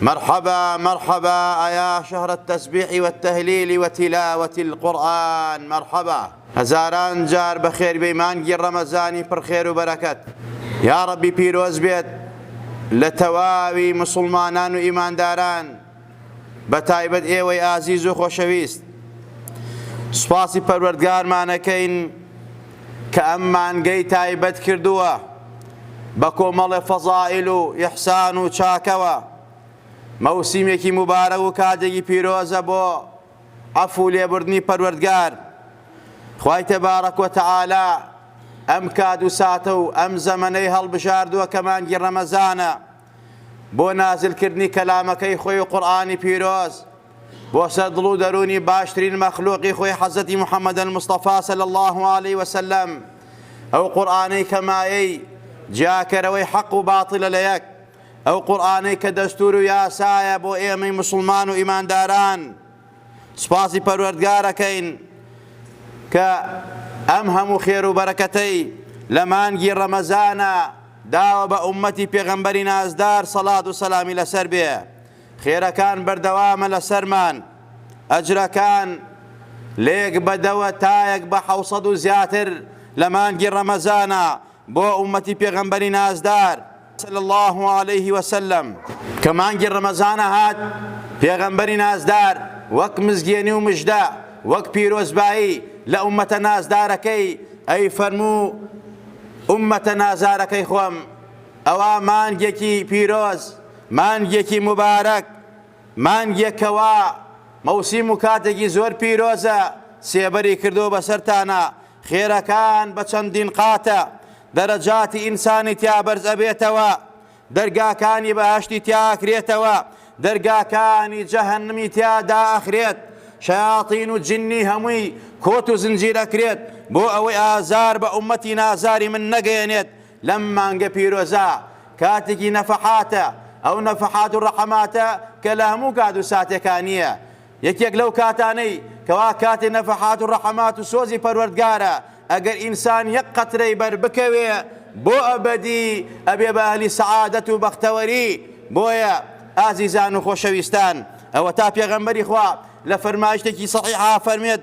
مرحبا مرحبا ایا شهر التسبیح والتهلیل وتلاوة القرآن مرحبا هەزاران جار بەخێر بێی مانگی ڕەمەزانی پڕ خێر و بەرەکەت یاڕەبی پیرۆز بێت لە تەواوی مسوڵمانان و ئیمانداران بە تایبەت ئێوەی ئازیز و خۆشەویست سوپاسی پەروەردگارمانەکەین کە ئەم مانگەی تایبەت کردووە بە کۆمەڵێ فەزائیل و ئیحسان و چاکەوە. مەوسیمێکی موبارەک و کاتێکی پیرۆزە بۆ عەفوو لێبوردنی پەروەردگار. خوای تبارک و تعالی ئەم کات و ساتە و ئەم زەمەنەی هەڵبژاردووە کە مانگی ڕەمەزانە. بۆ نازل کردنی کەلامەکەی خۆی و قورئانی پیرۆز بۆ سەر دڵ و دەروونی باشترین مەخلوقی خۆی حەزەتی محمد المصطفی صلی الله علیه وسلم ئەو قورئانەی کە مایەی جیاکەرەوەی حەق و باتڵە لە یەک ئەو قورئانەی کە دەستور و یاسایە بۆ ئێمەی مسوڵمان و ئیمانداران سوپاسی پەروەردگار ئەکەین کە ئەم هەموو خێرو بەرەکەتەی لە مانگی ڕەمەزانا داوە بە ئوممەتی پێغەمبەری نازدار سەڵات و سەلامی لەسەر بێ خێرەکان بەردەوامە لەسەرمان ئەجرەکان لێک بەدەوە تایەک بە حەوسەد و زیاتر لە مانگی ڕەمەزانا بۆ ئوممەتی پێغەمبەری نازدار صلی اللە علیه و سلم. کە مانگی ڕەمەزانە هات پێغەمبەری نازدار وەک مزگێنی و مژدە وەک پیرۆزبایی لە ئوممەتە نازدارەکەی ئەی فەرموو ئوممەتە نازارەکەی خۆم ئەوە مانگێکی پیرۆز مانگێکی موبارەک مانگێکەوە، مەوسیم و کاتێکی زۆر پیرۆزە، سێبەری کردووە بەسەرتانا، خێرەکان بە چەندین قاتە، دەرەجاتی ئینسانی تیا بەرز ئەبێتەوە، دەرگاکانی بەهەشتی تیا ئەکرێتەوە، دەرگاکانی جەهەنمی تیا دائەخرێت، شەیاتین و جنی هەمووی کۆت و زنجیر ئەکرێت بۆ ئەوەی ئازار بە ئومەتی نازاری من نەگەیەنێت، لەم مانگە پیرۆزە کاتێکی نەفەحاتە، ئەو نەفەحات و ڕەحەماتە کە لە هەموو کات و ساتێکا نییە، یەکێک لەو کاتانەی کەوا کاتی نەفەحات و ڕەحەمات و سۆزی پەروەردگارە، ئەگەر ئینسان یەک قەترەی بەر بکەوێ بۆ ئەبەدی ئەبێ بە ئەهلی سەعادەت و بەختەوەری، بۆیە ئازیزان و خۆشەویستان ئەوەتا پێغەمبەری خوا لە فەرمایشتێکی سەحیحا فەرمێت،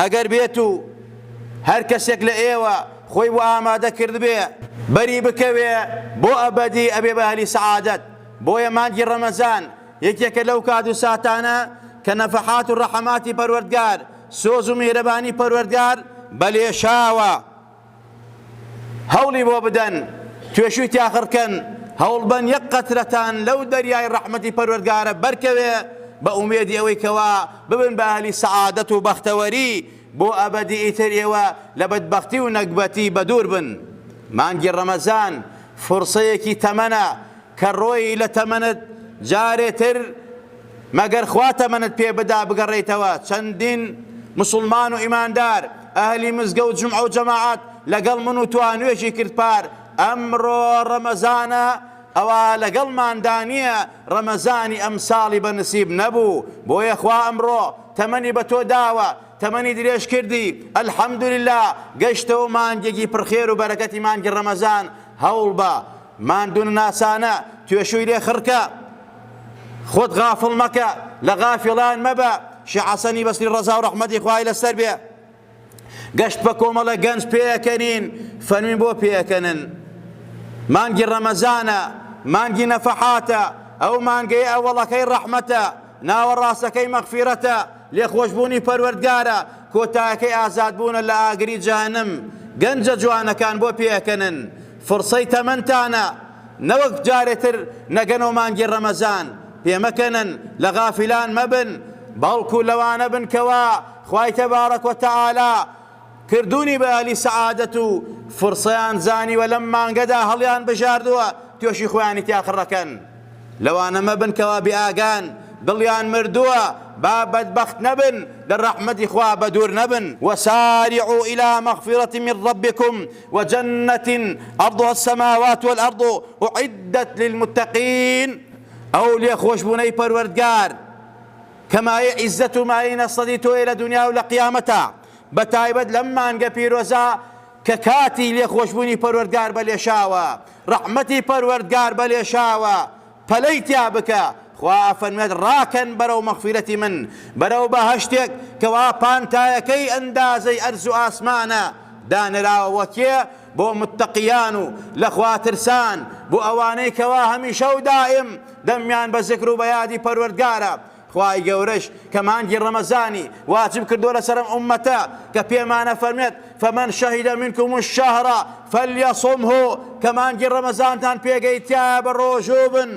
ئەگەر بێت و هەر کەسێک لە ئێوە خۆی بۆ ئامادە کردبێ بەری بکەوێ بۆ ئەبەدی ئەبێ بە ئەهلی سەعادەت، بۆیە مانگی ڕەمەزان یەکێکە لەو کات و ساتانە کە نەفەحات و ڕەحەماتی پەروەردگار، سۆز و میهرەبانی پەروەردگار بە لێشاوە، هەوڵی بۆ بدەن توێشوی تیاخڕکەن هەوڵبەن یەک قەترەتان لەو دەریای ڕەحمەتی پەروەرگارە بەرکەوێ بە ئومێدی ئەوەی کەوا ببن بە ئەهلی سەعادەت و بەختەوەری بۆ ئەبەدی ئیتر ئێوە لە بەدبەختی و نەگبەتی بەدوور بن مانگی ڕەمەزان فرسەیەکی تەمەنە کە ڕۆی لە تەمەنت جارێتر مەگەر خوا تەمەنت پێ بدا بگەڕێیتەوە چەندین مسوڵمان و ئیماندار ئەهلی مزگە و جومعە و جەماعەت لەگەڵ من و تۆ نوێژی کرد پار ئەمڕۆ ڕەمەزانە ئەوا لەگەڵماندا نییە ڕەمەزانی ئەمساڵی بە نسیب نەبوو بۆیە خوا ئەمڕۆ تەمەنی بە تۆ داوە تەمەنی درێژ کردی الحمدللە گەشتەوە مانگێکی پڕخێر و بەرەکەتی مانگی ڕەمەزان هەوڵ بە ماندونناسانە توێشووی لێ خڕکە خۆت غافڵ مەکە لە غافڵان مەبە شێخ حەسەنی بەسری ڕەزا و ڕەحمەتی خوای لەسەر بێ گەشت بە کۆمەڵە گەنج پێەکەنین فەرمی بۆ پێەکەنن مانگی ڕەمەزانە مانگی نەفەحاتە ئەو مانگەی ئەوەڵەکەی ڕەحمەتە ناوەڕاستەکەی مەغفیرەتە لێخۆشبوونی پەروەردگارە کۆتایەکەی ئازادبوونە لە ئاگری جانم گەنجە جوانەکان بۆ پێەکەنن فرسەی تەمەنتانە نەوەک جارێ تر نەگەنەو مانگی ڕەمەزان پێمەکەنن لە غافلان مەبن بەڵکو لەوانە بن کەوا خوای تبارک و تعالی کردونی بە ئەهلی سەعادەت و فرسەیان زانیوە لەم مانگەدا هەڵیان بژاردوە توێشی خۆیانی تیا خڕەکەن لەوانە مەبن کەوا بێ ئاگان دڵیان مردوە با بەدبەخت نەبن لە ڕەحمەتی خوا بەدور نەبن وسارعوا الى مغفرة من ربکم وجنت عرضها السماوات والارض اعدت للمتقین ئەو لێخۆشبوونەی پەروەردگار کە مایە عیزەت و مایەی نەسەدی تۆیە لە دنیا و لە قیامەتە بە تایبەت لەم مانگە پیرۆزە کە کاتی لێخۆشبوونی پەروەردگار بە لێشاوە ڕەحمەتی پەروەردگار بە لێشاوە پەلەی تیا بکە، خوا ئەفەرموێت ڕاکەن بەرەو مەغفیرەتی من، بەرەو بەهەشتێک کەوا پانتایەکەی ئەندازەی ئەرز و ئاسمانە، دانراوە بۆ کێ؟ بۆ متەقیان و لە خوا ترسان، بۆ ئەوانەی کەوا هەمیشە و دائیم دەمیان بە زکر و بە یادی پەروەردگارە، خوای گەورەش کە مانگی ڕەمەزانی واجب کردووە لەسەر ئەم ئوممەتە کە پێمان ئەفەرموێت فمن شهد منکم الشهر فلیصمه کە مانگی ڕەمەزانتان پێگەی تایە بە ڕۆژوو بن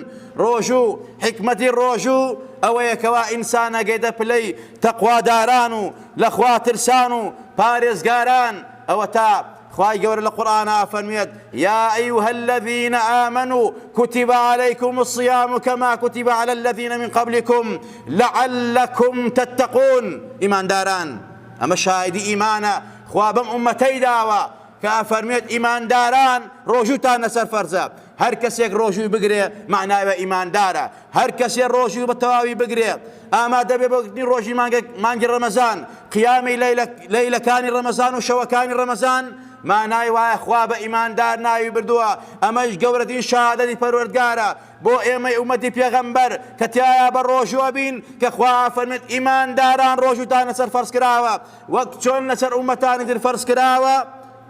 ڕۆژوو حکمەتی ڕۆژوو ئەوەیە کەوا ئینسانەگەی دەپلەی تەقواداران و لەخوا ترسان و پارێزگاران ئەوەتا خوای گەورە لە قورئانا فەرموێت، یا ایها الذین آمنو کتب علیکم الصیام کما کتب علی الذین من قبلکم لعلکم تتقون ئیمانداران ئەمە شاهیدی ئیمانە خوا بەم ئوممەتەی داوە کە ئەفەرموێت ئیمانداران ڕۆژووتان لەسەر فەرزە هەرکەسێک ڕۆژووی بگرێ مەعناوە ئیماندارە هەر کەسێ ڕۆژوو بە تەواوی بگرێ ئامادە بێ بۆ گرتنی ڕۆژی مانگی ڕەمەزان، قیامی لەیلەکانی ڕەمەزان و شەوەکانی ڕەمەزان، مانای وایە خوا بە ئیماندار ناوی بردووە، ئەمەیش گەورەترین شەهادەتی پەروەردگارە بۆ ئێمەی ئوممەتی پێغەمبەر کە تیایا بە ڕۆژوو ئەبین کە خوا فەرموێت ئیمانداران ڕۆژووتان لەسەر فەرز کراوە وەک چۆن لەسەر ئوممەتانی تر فەرز کراوە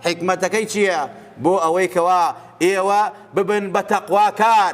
حیکمەتەکەی چییە بۆ ئەوەی کەوا ئێوە ببن بە تەقواکار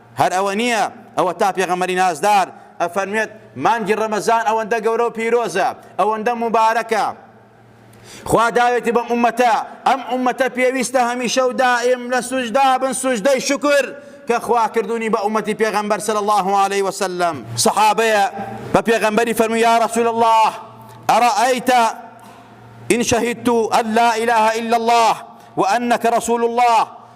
هەر ئەوە نییە، ئەوەتا پێغەمبەری نازدار ئەفەرموێت، مانگی ڕەمەزان ئەوەندە گەورە و پیرۆزە، ئەوەندە موبارەکە، خوا داوێتی بەم ئوممەتە، ئەم ئوممەتە پێویستە هەمیشە و دائیم لە سوجدا بن سوجدەی شوکر، کە خوا کردوونی بە ئوممەتی پێغەمبەر صلی اللە علیە وسلم. سەحابەیە بە پێغەمبەری فەرمووی، یا رسول اللە ارایت ان شهدت ان لا اله الا اللە وانک رسول اللە،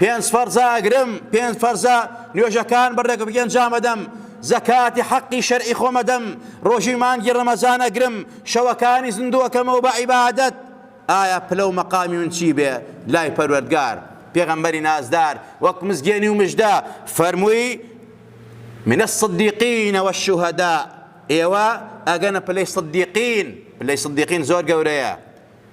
پێنج فەرزە ئەگرم، پێنج فەرزە نوێژەکان بە ڕێک ئەنجام ئەدەم، زەکاتی حەقی شەرعی خۆم ئەدەم، ڕۆژی مانگی ڕەمەزان ئەگرم، شەوەکانی زیندوو ئەکەمەوە بە عیبادەت، ئایا پلە و مەقامی من چی بێ لای پەروەردگار؟ پێغەمبەری نازدار وەک مزگێنی و مژدە فەرمووی من الصدیقین والشهداء ئێوە ئەگەنە پلەی صدیقین، پلەی صدیقین زۆر گەورەیە،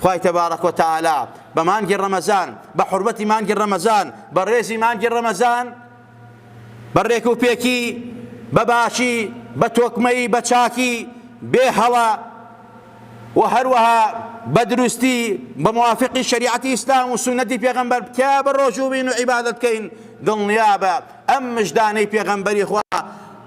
خوای تبارک و تعالی بە مانگی ڕەمەزان بە حورمەتی مانگی ڕەمەزان بە ڕێزی مانگی ڕەمەزان بە ڕێک و پێکی بە باشی بە تۆکمەی بە چاکی بێ هەڵە و هەروەها بە دروستی بە موافقی شریعەتی ئیسلام و سونەتی پێغەمبەر بکە بە ڕۆژوو بین و عیبادت بکەین دڵنیابە ئەم مژدانەی پێغەمبەری خوا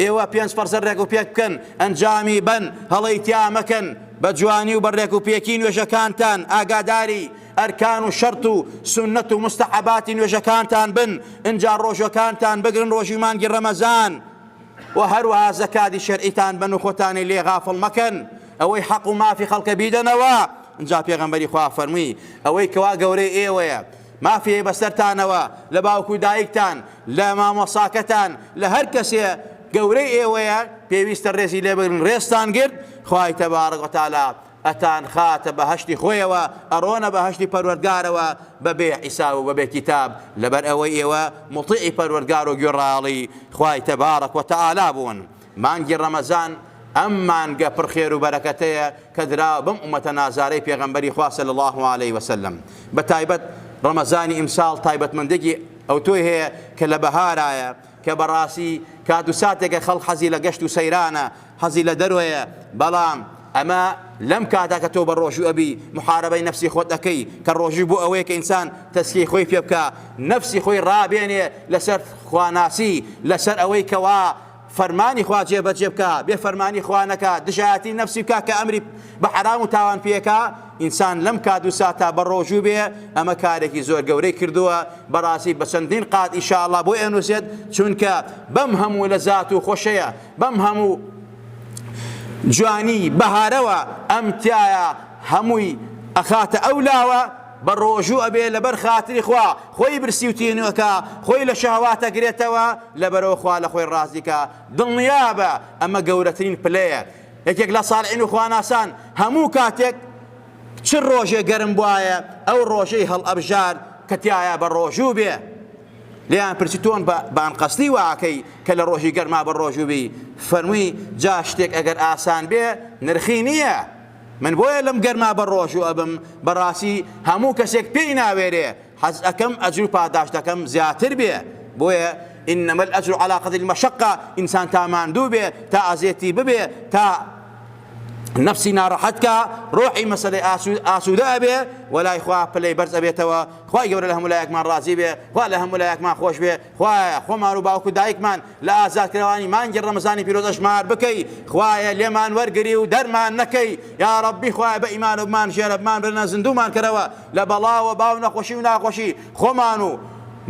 ئێوە پێنج پەڕسەر ڕێک و پێک بکەن ئەنجامی بەن هەڵەی تیا مەکەن بە جوانی و بە ڕێک و پێکی نوێژەکانتان ئاگاداری ئەرکان و شەرت و سنەت و مستەحەباتی نوێژەکانتان بن ئنجا ڕۆژەکانتان بگرن ڕۆژی مانگی ڕەمەزان و هەروەها زەکاتی شەرعیتان بن و خۆتانی لێ غافڵ مەکەن ئەوەی حەق و مافی خەڵکە بیدەنەوە ئنجا پێغەمبەری خوا فەرمووی ئەوەی کەوا گەورەی ئێوەیە مافی بەسەرتانەوە لە باوک و دایکتان، لە مامۆساکەتان، لە هەر کەسێ گەورەی ئێوەیە پێویستە ڕێزی لێ بگرن ڕێزتان گرت خوای تبارک و تعالی ئەتان خاتە بەهەشتی خۆیەوە ئەڕۆنە بەهەشتی پەروەردگارەوە بەبێ حیساب و بەبێ کیتاب لەبەر ئەوەی ئێوە موطیعی پەروەردگار و گوێڕایەڵی خوای تبارک و تعالی بوون مانگی ڕەمەزان ئەم مانگە پڕ خێر و بەرەکەتەیە کە دراوە بەم ئومەتە نازارەی پێغەمبەری خوا صلی اللە علیە و سلم بە تایبەت ڕەمەزانی ئیمساڵ تایبەتمەندێکی ئەوتۆی هەیە کە لە بەهارایە کە بەڕاستی کات و ساتێکە خەڵ حەزی لە گەشت و سەیرانە حەزی لە دەرۆیە بەڵام ئەمە لەم کاتا کە تۆ بە ڕۆژوو ئەبی محارەبەی نفسی خۆت ئەەکەی کە ڕۆژوو بۆ ئەوەیە کە ئینسان تەسکی خۆی پێ بکە نفسی خۆی ڕابێنێ لەسەر خواناسی لەسەر ئەوەی کەوا فەرمانی خوا جێبەجێ بکا بێ فەرمانی خوا نەکا دژایەتی نەفسی بکا کە ئەمری بە حەرام و تاوان پێکا ئینسان لەم کات و ساتا بە ڕۆژوو بێ ئەمە کارێکی زۆر گەورەی کردووە بەڕاستی بە چەندین قات ئیشاءاللە بۆ ئێنوسێت چونکە بەم هەموو لە زات و خۆشەیە بەم هەموو جوانی بەهارەوە ئەم تایە هەمووی ئەخاتە ئەو لاوە بە ڕۆژوو ئەبێ لەبەر خاتری خوا خۆی برسی و تینوو کا خۆی لە شەهواتە گرێتەوە لەبەرەوە خوا لە خۆی ڕازی کا دڵنیابە ئەمە گەورەترین پلەیە یەکێک لە ساڵعین و خواناسان هەموو کاتێک چ ڕۆژێ گەرم بواە ئەو ڕۆژەی هەڵ ئەبژار کە تایە بە ڕۆژوو بێ لیان پرسی تۆن بە بانقەستی واکەی کە لە ڕۆژی گەرما بە ڕۆژووبی فەرمووی جا شتێک ئەگەر ئاسان بێ نرخی نییە من بۆیە لەم گەرما بە ڕۆژو ئەبم بەڕاستی هەموو کەسێک پێی ناوێرێ حەز ئەکەم ئەجرو پاداشتەکەم زیاتر بێ بۆیە انما الاجر على قدر المشقه انسان تا ماندوو بێ تا ئازێتی ببێ تا نفسی ناڕەحەت کا ڕۆحی مەسلەی ئاسوودە ئەبێ وەلای خوا پلەی بەرز ئەبێتەوە خوای گەورە لە هەمولایەکمان ڕازی بێ خوا لە هەمولایەکمان خۆش بێ خوایە خۆمان و باوک و دایکمان لە ئازادکراوانی مانگی ڕەمەزانی پیرۆز ئەژمار بکەی خوایە لێمان وەرگری و دەرمان نەکەی یاڕەبی خوایە بە ئیمانەوە بمان ژێرە بمان برنە زندومان کەرەوە لە بەڵاوە باو نەخۆشی و ناخۆشی خۆمان و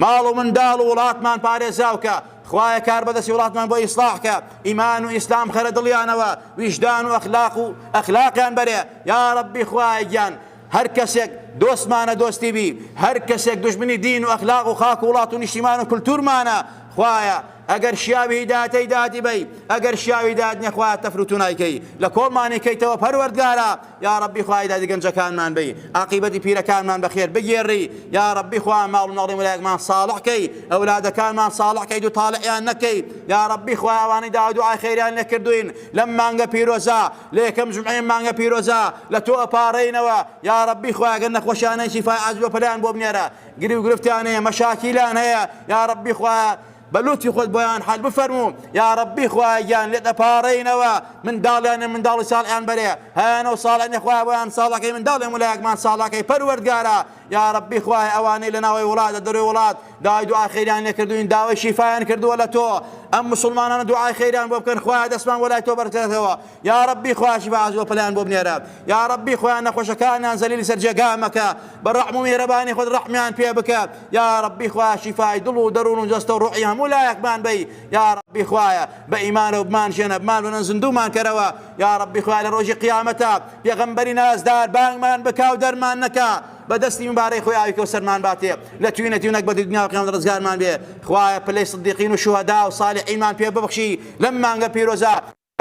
ماڵ و منداڵ و وڵاتمان پارێزاوکە خوایە کاربەدەستی وڵاتمان بۆ ئیسلاح کە ئیمان و ئیسلام خەرە دڵیانەوە ویژدان و ئەخلاق و ئەخلاقیان بەرێ یا ڕەبی خوایە گیان هەر کەسێک دۆستمانە دۆستی بی هەر کەسێک دوژمنی دین و ئەخلاق و خاک و وڵات و نیشتیمان و کلتورمانە خوایە ئەگەر شیاوی هیداەتەی دادی بەی ئەگەر شیاوی داد نەخوا تەفروتونایکەی لە کۆڵمانی کەیتەوە پەروەردگارە یا ڕبی خوای دادی گەنجەکانمان بی عقیبەتی پیرەکانمان بەخێر بگێڕی یا ڕبی خوا ماڵ ناڵی ملایەکمان ساڵحکەی ئەولادەکانمان ساڵحکەی دوو تاالعیان نەکەی یا ڕبی خوایوانی داودو ئاخێریان نەکردوین لەم مانگە پیرۆزە لە یەکەم جمعێن مانگە پیرۆزە لە تۆ ئەپارێینەوە یاڕەبی خوایە گەر نەخۆشیانەی شیفای عاجل و پەلەیان بۆ بنێرە گری و گرفتیان هەیە مەشاکیلیان هەیە یاڕەبی خوایە بە لوتفی خۆت بۆیان حەل بفەرموو یاڕەبی خوایە گیان لێت ئەپاڕێینەوە منداڵیانە منداڵی ساڵحیان بەرێ هەیانەو ساڵحنێ خوایە بۆیان ساڵەکەی منداڵێ ملایەکمان ساڵەکەی پەروەردگارا یاڕەبی خوایە ئەوانەی لەناوەی وڵات لە دەرۆی وڵات داوای دوعای خێریان لێ کردوین داوای شیفایان کردووە لە تۆ ئەم مسوڵمانانە دوعای خێریان بۆ بکەن خوایە دەستمان بۆ لای تۆ بەرزکەرەوە یاڕەبی خوایەکی بەعەز وپلان بۆ بنێرە یاڕەبی خوایە نەخۆشەکانیان زەلیلی سەر جێگا مەکە بە ڕەحم و میهرەبانی خۆت ڕەحمیان پێ بکە یاڕەبی خوایە شیفای دڵ و دەرون و جەستە و ڕۆحی هەموو لایەکمان بەی یاڕەبی خوایە بە ئیمانەوە بمانژێنە بمانوێنە زیندومان کەرەوە یاڕەبی خوایە لە ڕۆژی قیامەتا پێغەمبەری نازدار بانگمان بکا و دەرمان نەکا بە دەستی مبارەی خۆی ئاوی کەوسەرمان باتێ لە توینە تیونەک بەدی دنیا و قیامەت ڕزگارمان بێ خوایە پلەی صدیقین و شوهەدا و صالحینمان پێ ببەخشی لەم مانگە پیرۆزە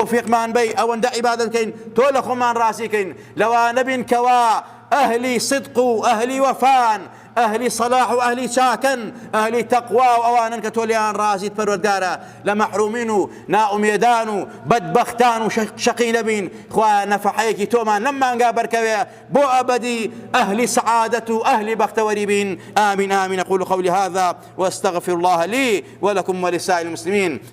تۆفیقمان بەی ئەوەندە عیبادەت کەین تۆ لە خۆمان ڕازی کەین لەوانە بین کەوا ئەهلی صدق و ئەهلی وەفان ئەهلی صلاح و ئەهلی چاکن ئەهلی تەقوا و ئەوانن کە تۆ لێیان ڕازیت پەروەردگارە لە مەحرومین و نائومێدان و بەدبەختان و شەقی نەبین خوایە نەفحەیەکی تۆمان لەم مانگا بەرکەوێ بۆ ئەبەدی ئەهلی سعادەت و ئەهلی بەختەوەری بین آمین آمین قول قولي هذا واستغفر الله لي ولكم ولسائر المسلمين